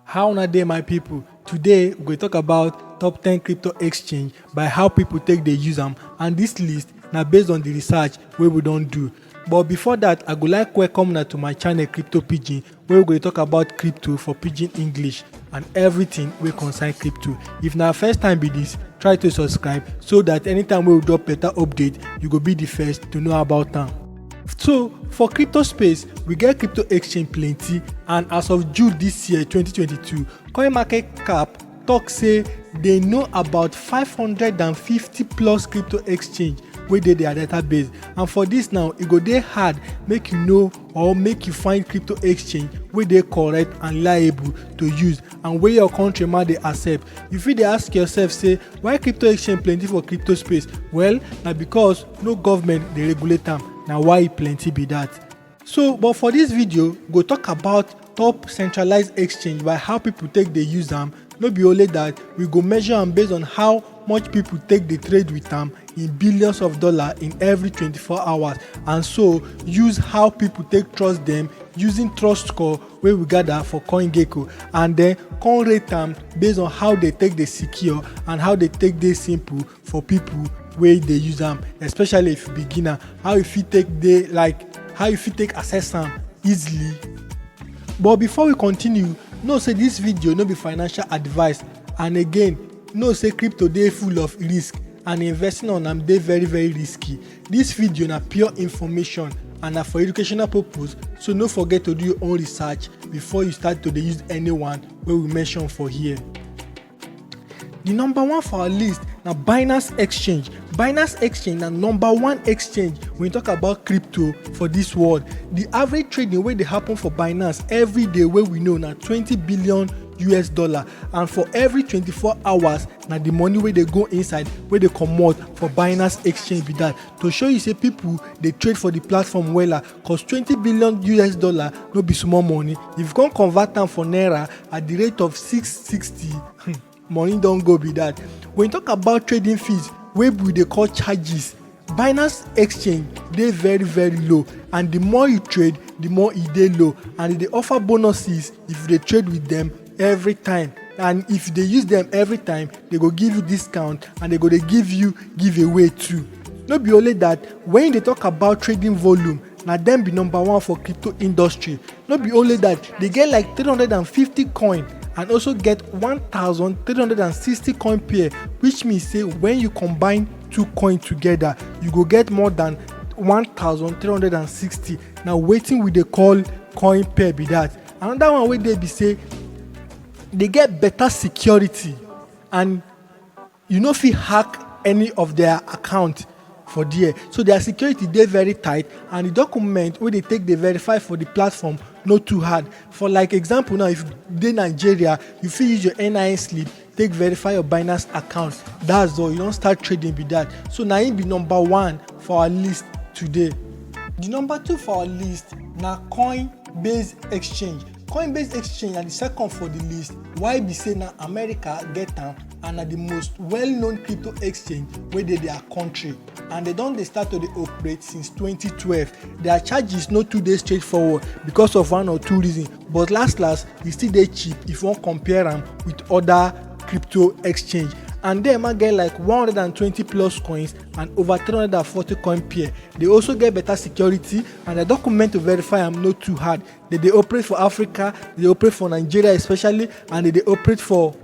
How una dey my people? Today we go talk about top 10 crypto exchange by how people take dey use am and this list na based on the research wey we don do. But before that, I go like welcome una to my channel Crypto Pidgin where we go dey talk about crypto for pidgin English and everything wey concern crypto. If na first time be this, try to subscribe so that anytime wey we drop better update, you go be the first to know about am. so for crypto space we get crypto exchange plenty and as of june dis year 2022 coin market cap tok say dey know about 550 plus crypto exchange wey dey dia database and for dis now e go dey hard make you know or make you find crypto exchange wey dey correct and reliable to use and wey your country ma dey accept you fit dey ask yourself say why crypto exchange plenty for crypto space well na because no government dey regulate am na why e plenty be that so but for this video we go talk about top centralized exchange by how people take dey use am no be only that we go measure am based on how much people take dey trade with am in billions of dollars in every 24 hours and so use how people take trust them using trust score wey we gather for coingecko and then come rate am based on how they take dey secure and how they take dey simple for people wey dey use am especially if you beginner how you fit take dey like how you fit take access am easily but before we continue know say this video no be financial advice and again know say crypto dey full of risk and investing on am dey very very risky this video na pure information and na for educational purpose so no forget to do your own research before you start to dey use anyone wey we mention for here di number one for our list na binance exchange binance exchange na number one exchange when you talk about crypto for dis world di average trading wey dey happen for binance every day wey we know na 20 billion us dollar and for every 24 hours na di money wey dey go inside wey dey comot for binance exchange be dat to show you say pipo dey trade for di platform wella cause twenty billion us dollar no be small money if you come convert am for naira at the rate of six sixty hmm, money don go be that when you talk about trading fees wey we dey call charges binance exchange dey very very low and the more you trade the more e dey low and e dey offer bonuses if you dey trade with them every time and if you dey use them every time they go give you discount and they go dey give you giveaway too no be only that when you dey talk about trading volume na them be number one for crypto industry no be only that they get like 350 coin and also get 1360 coin pair which means say when you combine two coin together you go get more than 1360 na wetin we dey call coin pair be that another one wey dey be say dey get better security and you no fit hack any of their account for there so their security dey very tight and the document wey dey take dey verify for the platform no too hard for like example now if you dey nigeria you fit use your nin slip take verify your binance account that's all you don start trading be that so na him be number one for our list today the number two for our list na coinbase exchange coinbase exchange na the second for the list why be say na america get am and na the most well-known crypto exchange wey dey their country and they don dey start to dey operate since 2012 their charges no too dey straightforward because of one or two reasons but last last e still dey cheap if you wan compare am with other crypto exchange and dem ma get like 120 plus coins and over 340 coin pair dey also get better security and the document to verify am no too hard dey dey operate for africa dey dey operate for nigeria especially and dey dey operate for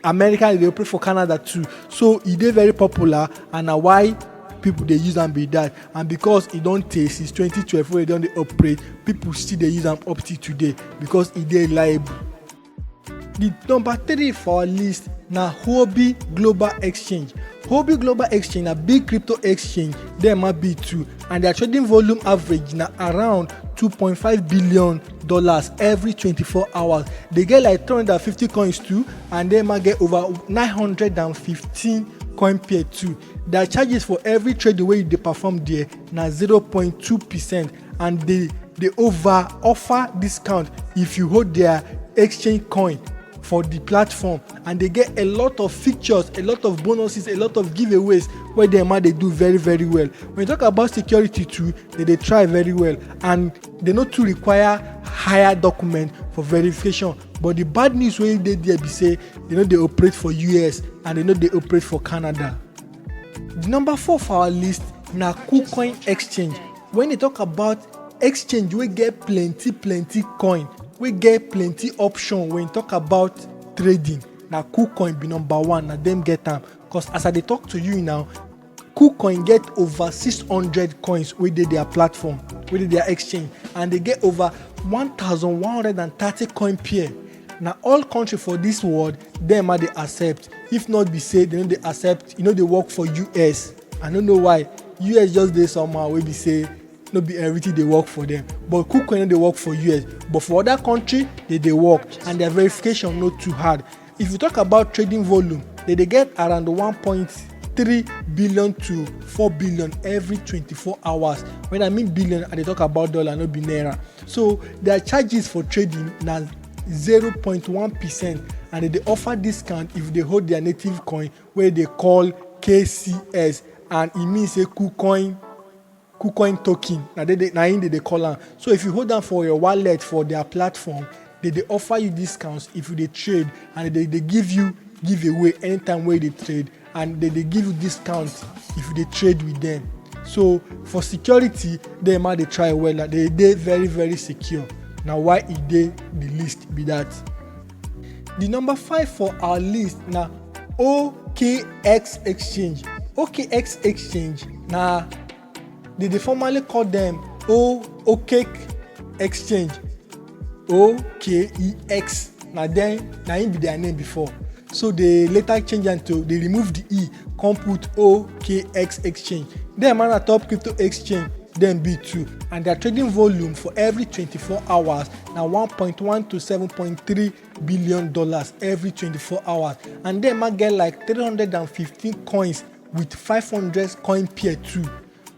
america dey operate for canada too so e dey very popular and na why people dey use am be that and because e don tey since 2012 wey e don dey operate people still dey use am up till today because e dey reliable. the number three for our list na huobi global exchange huobi global exchange na big crypto exchange dem ma be too and their trading volume average na around 2.5 billion dollars every 24 hours they get like 350 coins too and then man get over 915 coin pair too their charges for every trade the way you dey perform there na 0.2 percent and they dey over offer discount if you hold their exchange coin for the platform and they get a lot of features a lot of bonuses a lot of giveaways wey dem ma dey do very very well when you talk about security too they dey try very well and They no too require higher document for verification but the bad news wey dey there be say they no dey operate for us and they no dey operate for canada the number four for our list na kucoin exchange when they talk about exchange wey get plenty plenty coin wey get plenty option when talk about trading na kucoin be number one na dem get am cause as i dey talk to you now KuCoin get over 600 coins wey dey their platform, wey dey their exchange and dey get over 1130 coin pair. Na all country for dis world dem a dey accept if not be say dem no dey accept, e no dey work for US. I no know why, US just dey somehow wey be say no be everything dey work for dem but KuCoin no dey work for US but for other country, dey dey work and their verification no too hard. If you talk about trading volume, they dey get around 1.3 billion to 4 billion every 24 hours. When I mean billion, I dey talk about dollar, no be naira. So their charges for trading na 0.1 percent and they dey offer discount if they hold their native coin wey they call KCS and e mean say KuCoin KuCoin token na dey dey na im dey dey call am. So if you hold am for your wallet for their platform, dey dey offer you discounts if you dey trade and dey dey give you giveaway anytime wey you dey trade and dey dey give you discount if you dey trade with them. So for security, dem ma dey try wella, dey dey very very secure. Na why e dey the list be that. Di number five for our list na OKX Exchange. OKX Exchange na dem dey formerly call dem O Okek Exchange. OKEX na dem na im be their name before. So dey later change am to dey remove di E come put OKX Exchange. Dem na top crypto exchange dem be too and their trading volume for every twenty-four hours na 1.1 to 7.3 billion dollars every 24 hours and dem ma get like 315 coins with 500 coin pair too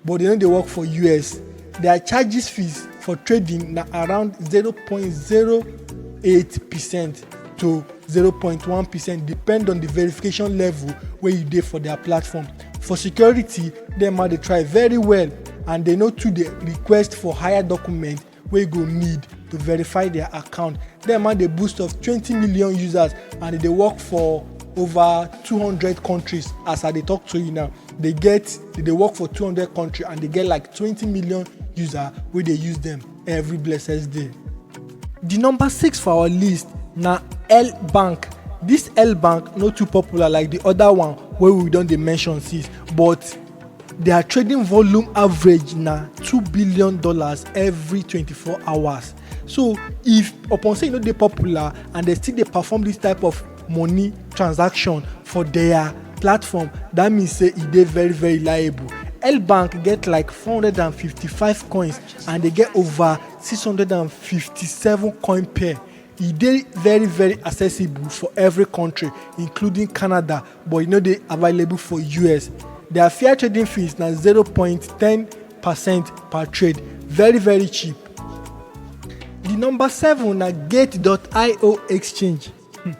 but dem no dey work for us their charges fees for trading na around 0.08 percent to 0.1 percent depend on the verification level wey you dey for their platform for security dem ma dey try very well and dem no too dey request for higher document wey go need to verify their account dem man dey boost of 20 million users and e dey work for over 200 countries as i dey talk to you now dey get dey dey work for 200 country and dey get like 20 million user wey dey use dem every blessed day di number six for our list na l bank dis l bank no too popular like di oda one wey we don dey mention since but dia trading volume average na two billion dollars every twenty-four hours so if upon say e no dey popular and dem still dey perform dis type of money transaction for dia platform dat mean say e dey very very liable Elbank get like 455 coins and they get over 657 coin pair e dey very very accessible for every country including canada but e no dey available for us their fair trading fees na 0.10 percent per trade very very cheap di number seven na gate.io exchange hmm,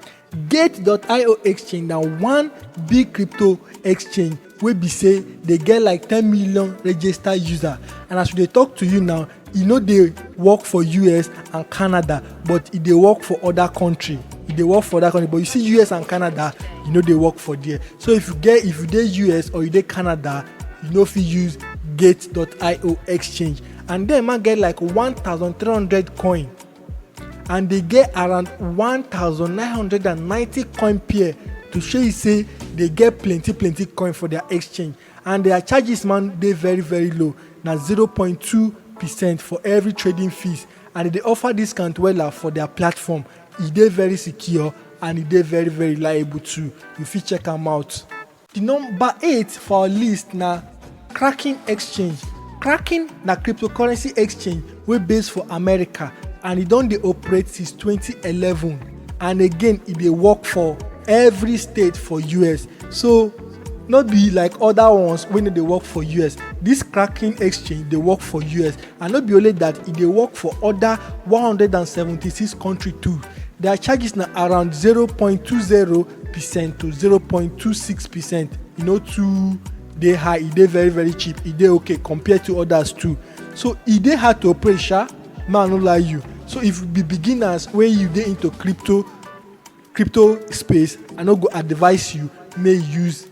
gate.io exchange na one big crypto exchange wey be say dey get like ten million registered users and as we dey talk to you now e no dey work for us and canada but e dey work for other country e dey work for other country but you see us and canada e no dey work for there so if you get if you dey us or you dey canada you no fit use gate.io exchange and dem ma get like one thousand three hundred coin and dey get around 1990 coin pair to show you say dey get plenty plenty coin for their exchange and their charges man dey very very low na 0.2 percent for every trading fees and e dey offer discount wella for their platform e dey very secure and e dey very very reliable too you fit check am out. Di number eight for our list na Kraken Exchange. Kraken na cryptocurrency exchange wey base for America and e don dey operate since 2011 and again e dey work for every state for US. So no be like other ones wey no dey work for us this cracking exchange dey work for us and no be only that e dey work for other 176 country too their charges na around 0.20 percent to 0.26 percent e no too dey high e dey very very cheap e dey okay compared to others too so e dey hard to operate sha man no lie you so if you be beginners wey you dey into crypto crypto space i no go advise you make you use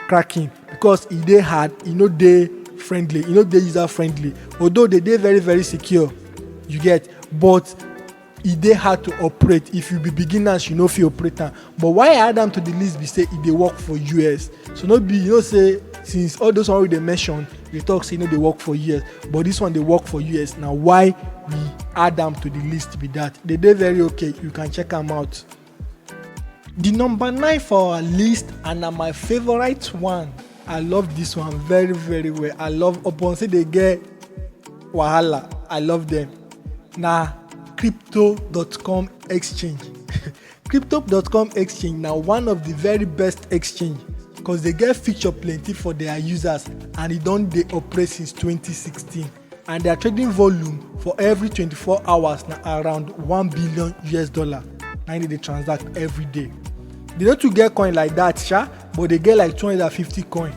cracking because e dey hard e no dey friendly e no dey user friendly although they dey very very secure you get but e dey hard to operate if you be beginners you no fit operate am but why i add am to the list be say e dey work for us so no be you know say since all those one wey dey mention dey talk say e no dey work for us but this one dey work for us na why we add am to the list be that dey dey very okay you can check am out. The number nine for our list and na my favorite one. I love this one very very well. I love upon say they get wahala. I love them. Na crypto.com exchange. crypto.com exchange na one of the very best exchange because they get feature plenty for their users and e don dey operate since 2016. and their trading volume for every 24 hours na around 1 billion us dollar na im dey transact every day they no too get coin like that sha but they get like 250 coin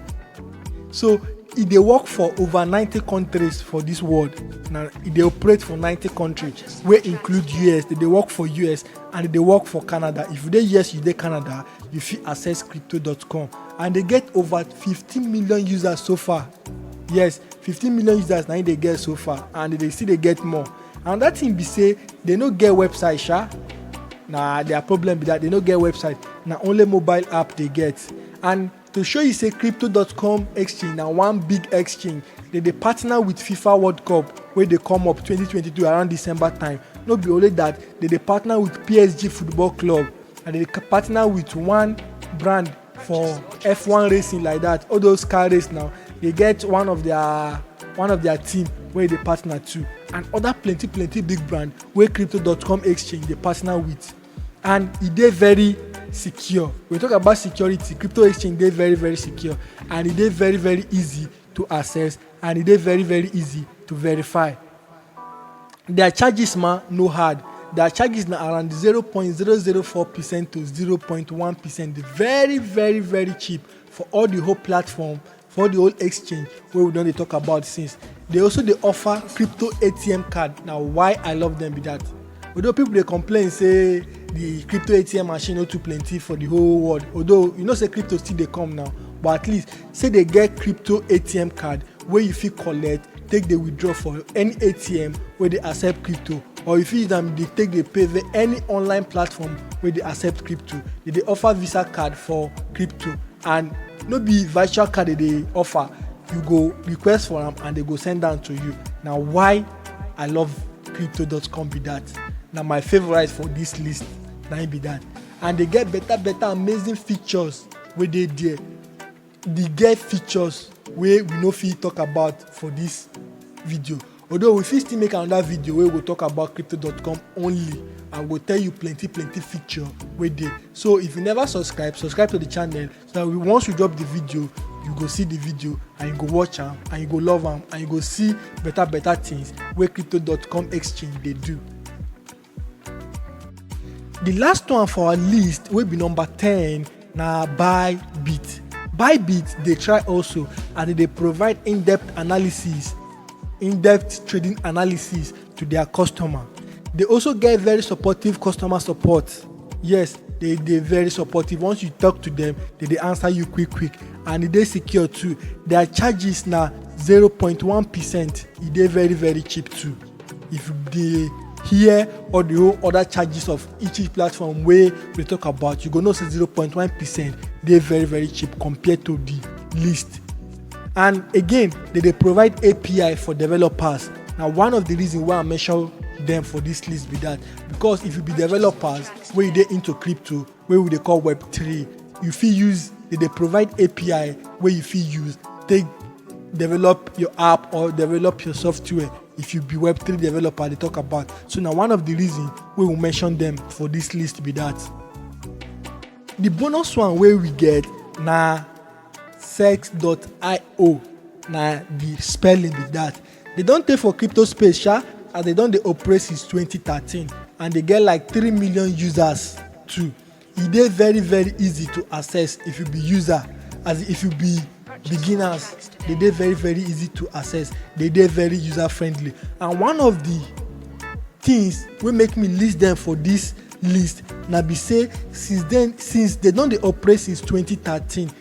so e dey work for over 90 countries for dis world na e dey operate for 90 countries wey include us e dey work for us and e dey work for canada if you dey us you dey canada you fit access crypto.com and dey get over 15 million users so far yes 15 million users na im dey get so far and they dey still dey get more and that thing be say they no get website sha na their problem be that they no get website na only mobile app they get and to show you say crypto.com exchange na one big exchange they dey partner with fifa world cup wey dey come up 2022 around december time no be only that they dey partner with psg football club and they dey partner with one brand for f1 racing like that all those car race now dey get one of their one of their team wey dey partner to and other plenty plenty big brand wey crypto.com exchange dey partner with and e dey very secure we talk about security crypto exchange dey very very secure and e dey very very easy to access and e dey very very easy to verify Dia charges ma no hard, dia charges na around zero point zero zero four percent to zero point one percent, very very very cheap for all the whole platform, for all the whole exchange wey we don dey talk about since. Dey also dey offer crypto ATM card, na why I love dem be that. Although people dey complain say the crypto ATM machine no too plenty for the whole world, although you know say crypto still dey come now, but at least. say dey get crypto atm card wey you fit collect take dey withdraw for any atm wey dey accept crypto or you fit use am dey take dey pay via any online platform wey dey accept crypto dey dey offer visa card for crypto and no be virtual card dey dey offer you go request for am and dey go send am to you na why i love crypto.com be that na my favourite for this list na im be that and dey get better better amazing features wey dey there the get features wey we no fit talk about for this video although we fit still make another video wey go talk about crypto.com only and go tell you plenty plenty feature wey dey so if you never subscribe subscribe to the channel so that we, once we drop the video you go see the video and you go watch am and you go love am and you go see better better things wey crypto.com exchange dey do The last one for our list wey be number ten na Bybit. Bybit dey try also and e dey provide in-depth analysis, in-depth trading analysis to their customer. They also get very supportive customer support. Yes, they dey very supportive. Once you talk to them, they dey answer you quick quick and e dey secure too. Their charges na zero point one percent. E dey very very cheap too. if you dey hear all the whole other charges of each each platform wey we dey talk about you go know say zero point one percent dey very very cheap compared to the list and again dem dey provide api for developers na one of the reason why i mention dem for this list be that because if you be developers wey you dey into crypto wey we dey call web3 you fit use e dey provide api wey you fit use take develop your app or develop your software if you be web3 developer dey talk about so na one of the reason wey we mention them for this list be that the bonus one wey we get na sex.io na the spelling be that Dey don tey for crypto space sha as dey don dey operate since twenty thirteen and dey get like three million users too. E dey very very easy to access if you be user as in if you be beginners dey dey very very easy to access, dey dey very user friendly and one of the things wey make me list dem for this list na be sey since den since dey don dey operate since twenty thirteen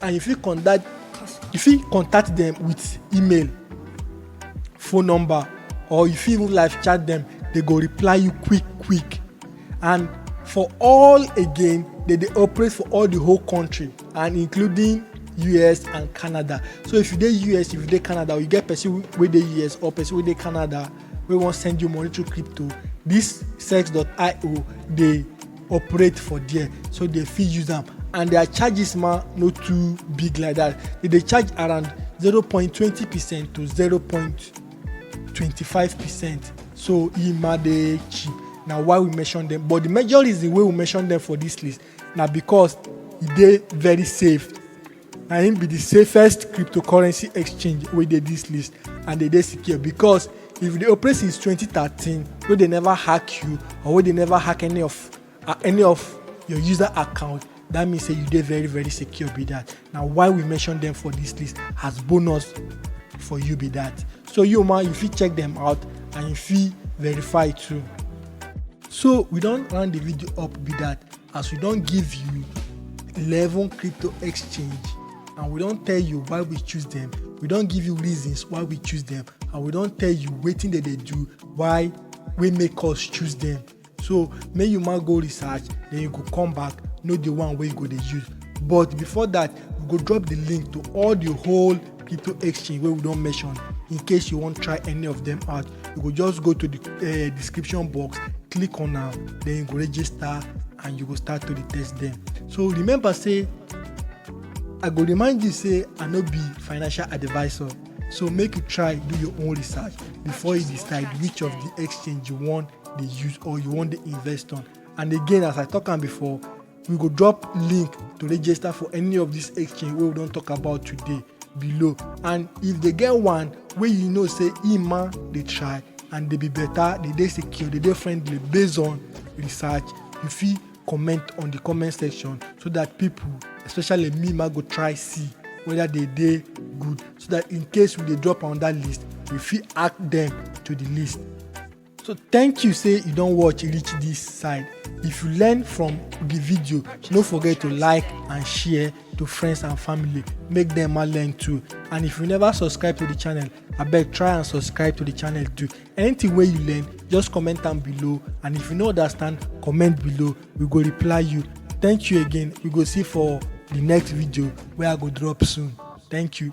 and you fit contact you fit contact them with email phone number or you fit even live chat them they go reply you quick quick and for all again they dey operate for all the whole country and including us and canada so if you dey us if you dey canada or you get person wey dey us or person wey dey canada wey wan send you money through crypto this sex.io dey operate for there so they fit use am and their charges ma no too big like that they dey charge around 0.20 percent to 0.25 percent so e ma dey cheap na why we mention them but the major reason wey we mention them for this list na because e dey very safe na im be di safest cryptocurrency exchange wey dey dis list and dey dey secure because if you dey operate since 2013 wey dey never hack you or wey dey never hack any of uh, any of your user account that means say you dey very very secure be that na why we mention them for this list as bonus for you be that so you ma you fit check them out and you fit verify too so we don round the video up be that as we don give you eleven crypto exchange and we don tell you why we choose them we don give you reasons why we choose them and we don tell you wetin dem dey do why wey make us choose them so make you ma go research then you go come back know the one wey you go dey use but before that we go drop the link to all the whole crypto exchange wey we don mention in case you wan try any of them out you go just go to the uh, description box click on am then you go register and you go start to dey test them so remember say i go remind you say i no be financial advisor so make you try do your own research before you decide which of the exchange you wan dey use or you wan dey invest on and again as i talk am before we go drop link to register for any of this exchange wey we don talk about today below and if they get one wey you know say ima dey try and dey be better dey dey secure dey dey friendly based on research you fit comment on the comment section so that people especially me ma go try see whether they dey good so that in case we dey drop on that list we fit add them to the list So thank you say you don watch reach this side. If you learn from the video, no forget to like and share to friends and family. Make them all learn too. And if you never subscribe to the channel, abeg try and subscribe to the channel too. Anything wey you learn, just comment am below. And if you no understand, comment below. We go reply you. Thank you again. We go see for the next video wey I go drop soon. Thank you.